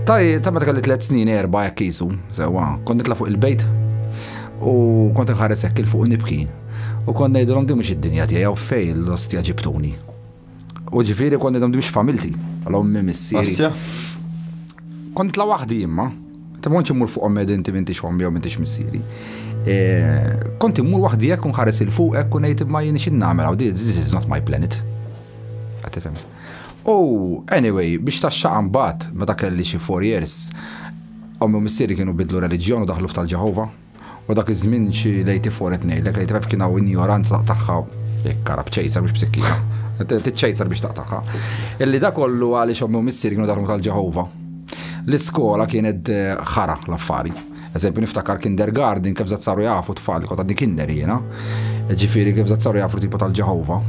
Ta' ta' meta kelli tliet snin erba' hekk isu, sewwa, kont nitla' fuq il-bejt u kont nħares hekk il fuq nibki. U kont ngħidilhom din mhux id-dinja tiegħi u fej l-ostja ġibtuni. U ġifiri konni għandu biex familti, għal-ommi missieri. Kont tla wahdi imma, ta' monċi mur fuq ommi għedin ti mintix ommi għom mintix missieri. E, kont mur wahdi jek unħares il-fuq jek unajt imma jini xin namel għaw, this is not my planet. Għatifem. U, anyway, biex ta' xaqan bat, meta kelli xie four years, ommi missieri kienu bidlu religjon u daħlu f'tal-ġahova. U dak iż-żmien xi lejti fuq qed ngħidlek, lejti kif kien hawn injoranza taqtagħha jekk karab ċejsar mhux b'sikkina. Tiċċejsar biex taqtagħha. Illi da kollu għaliex ommi u missier kienu daħlu tal-Ġeħova. L-iskola kienet eh, ħara l-affari. Eżempju, niftakar kindergarten kif zat saru jafu tfal li kotadni kinder jiena. Ġifieri kif zat saru jafu tipo tal-Ġeħova.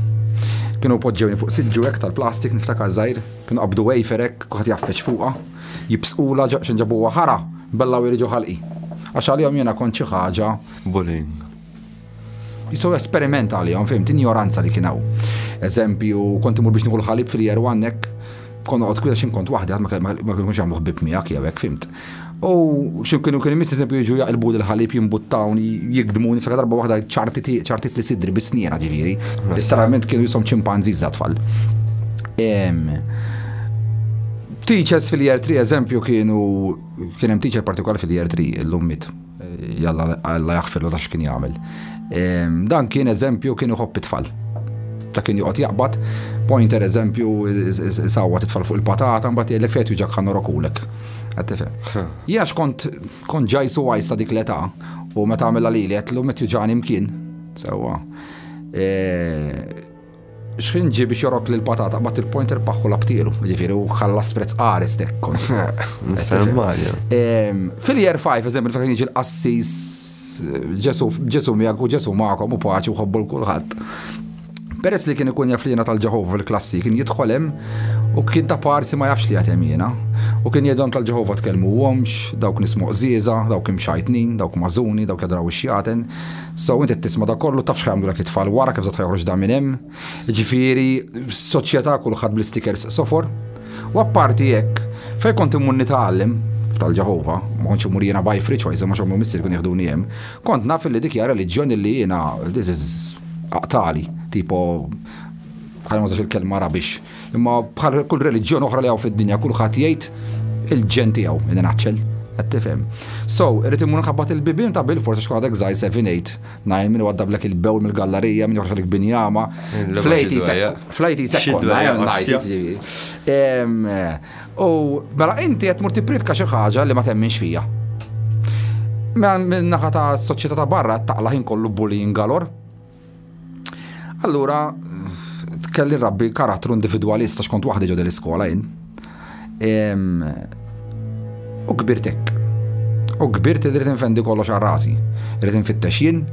Kienu poġġewni fuq siġġu hekk tal-plastik niftakar żgħir, kienu qabdu wafer hekk, kuħat jaffeċ fuqha. Jibsqulha x'in ġabuha ħara, bella u jriġu ħalqi. Għax għalihom jiena kont xi ħaġa. Bullying. Jiswew esperiment għalihom, fhimt, injoranza li kien hawn. Eżempju, kont imur biex nieħu l-ħalib fil-Year One hekk, kont noqgħod kwiet x'in kont waħdi, ħadd ma kienux jagħmlu ħbieb miegħek jew hekk, fhimt. U xi kienu kien imiss eżempju jiġu jaqilbu l-ħalib jimbuttawni, jikdmuni f'ħaġa darba waħda ċartit li sidri bis-sniena ġifieri. Letteralment kienu jisom ċimpanżiż da tfal. Teachers fil-year 3 eżempju kienu kien hemm teacher partikolari fil-year 3 illum mit jalla alla jaħfirlu ta' x'kien jagħmel. Ehm, dan kien eżempju kien iħobb it-tfal. Ta' kien joqgħod jaqbad, pointer eżempju sawwa titfal fuq il-patata mbagħad jgħidlek fejn tuġak ħanna rokulek. Jax kont kont ġajsu għajs ta' dik l-età u meta għamilha lili qed lu met juġani mkien. Sewwa. Ehm, Xħin ġi biex jorok lil patata bat il-pointer paħħu labtielu, ġifiri u ħallas prezz qares tekkom. Nistar Mario. Fil-year 5, eżempju, fejn jiġi l-qassis ġesu miegħek u ġesu magħkom u paċi u ħobbu l-kulħadd. Peress li kien ikun jaf li jena tal-ġeħova fil-klassi, kien jidħolem u kien ta' parsi ma jafx li għatem jena. U kien jedhom tal-ġeħova tkellmu għomx, dawk nismuq ziza, dawk imxajtnin, dawk mażuni, dawk jadraw xjaten. So inti tisma da kollu taf xħajamlu dak it-tfal wara kif zatħa joħroġ da minn hemm. Ġifieri soċjetà kulħadd bl-stickers sofor. U apparti jekk, fej kont immunni tagħallem tal-Ġehova, ma kontx imur jiena by free choice, ma xommu missir kun jieħduni hemm, kont naf li dik jara liġjon li jiena this is aqtali, tipo ħajma il-kelma rabix. Imma bħal kull reliġjon oħra li hawn fid-dinja kulħadd jgħid il-ġen tiegħu, minn naċċel qed tifhem. So, irid imur nħabbat il-bibien ta' bil forsi xkun għadek żgħir 7-8, najn minn għadda blek il-bewl mill-gallerija minn joħroġ lik binjama. Flejti flejti sekkonna U mela inti qed mur tipritka xi ħaġa li ma temminx fija. Mela minn naħa ta' soċjetà ta' barra taqla ħin kollu bullying galor. Allura, tkelli rabbi karattru individwalista xkont waħdi ġodel iskola jien. U kbirtek. U kbirt irrid infendi kollox għal rasi. Irrid infittex jien,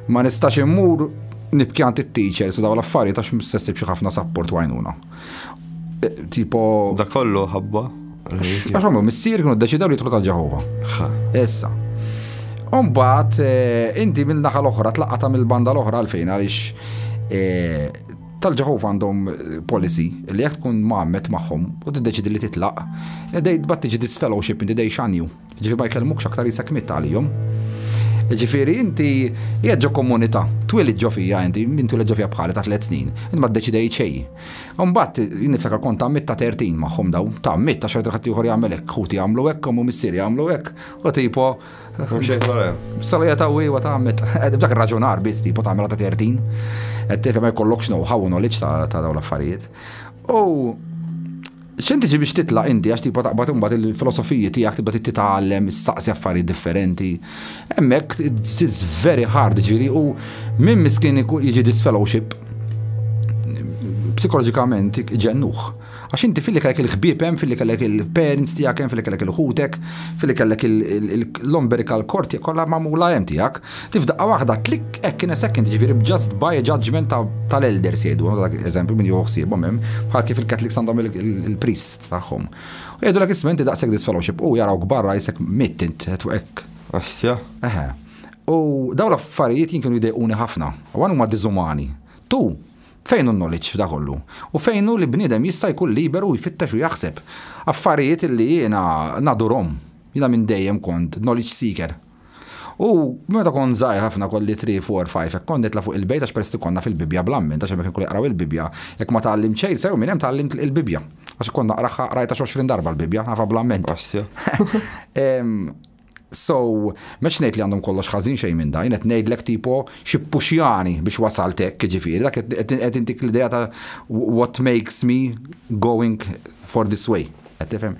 ma nistax immur nibkjant it-teachers u daw l-affarijiet għax msessib xi ħafna sapport għajnuna. Eh, tipo. Da kollu ħabba. Għaxom, missier kienu deċidaw li jitlu ta' Ġehova. Issa. Umbat, eh, inti minn naħa l-oħra, tlaqqata mill-banda l-oħra għalfejn għalix eh, tal-ġaħuf għandhom eh, policy li jek tkun maħmet maħħom u t-deċidi li titlaq, dej tbatti ġi disfellowship inti dej xanju. Jiġifieri ma jkellmukx aktar isek miet għalihom. Jiġifieri inti qiegħed ġo komunità, twielid ġo fija inti, min twieled ġo fija bħali ta' tliet snin, inti ma ddeċidejt xejn. Imbagħad jien niftakar kont tgħammidt ta' 30 magħhom dawn, tgħammidt għax rajt ħadd ieħor jagħmel hekk, ħuti jagħmlu hekk, omm u missieri jagħmlu hekk, u tipo. Hemm xejn dwar hemm. Salija ta' wiewa tgħammidt, dak raġunar biss tipo tagħmilha ta' 30. Qed tifhem ma jkollokx know-how u knowledge ta' dawn l-affarijiet. U X'qed tiġi biex titla' inti għax tibqa' taqbad imbagħad il-filosofiji tiegħek tibda titgħallem, issaqsi affarijiet differenti. Hemmhekk it's very hard ġifieri u min miskin jiġi disfellowship psikoloġikament ġennuh. Għax inti filli kellek il-ħbieb hemm, filli kellek il-parents tiegħek hemm, filli kellek il-ħutek, filli kellek l-omberika l-korti kollha magħmula hemm tiegħek. Ti f'daqqa waħda, klik hekk in a second, ġifieri b'just by a judgment tal-elders jgħidu, dak eżempju min jieħu ħsiebhom hemm, bħal kif il-Catholics għandhom il-priest tagħhom. U jgħidu l-ek ismenti daqshekk disfellowship u jaraw kbarra jisek mitt int hekk. Astja? Eħe. U daw l-affarijiet jien kienu jdejquni ħafna, u għan huma diżumani. Tu, fejn hu knowledge f'da kollu? U fejn hu li bniedem jista' jkun liberu jfittex u jaħseb? Affarijiet li jiena nadurhom, jiena minn dejjem kont knowledge seeker. U meta kont żgħir ħafna kolli 3, 4, 5 hekk kont nitla' fuq il-bejt għax peress li konna fil-Bibbja bl-amment għax hemmhekk kien kollu jaqraw il-Bibbja. Jekk ma tgħallimt xejn sew minn hemm tgħallimt il-Bibbja. Għax kont naqraha qrajtha xi għoxrin darba l-Bibbja, nafha bl-amment. Ostja. So, mex ngħid li għandhom kollox ħażin xejn minn dajn, qed ngħidlek tipo xi puxjani biex wasalt hekk jiġifieri, dak qed intik l-idea ta' what makes me going for this way. Qed tifhem?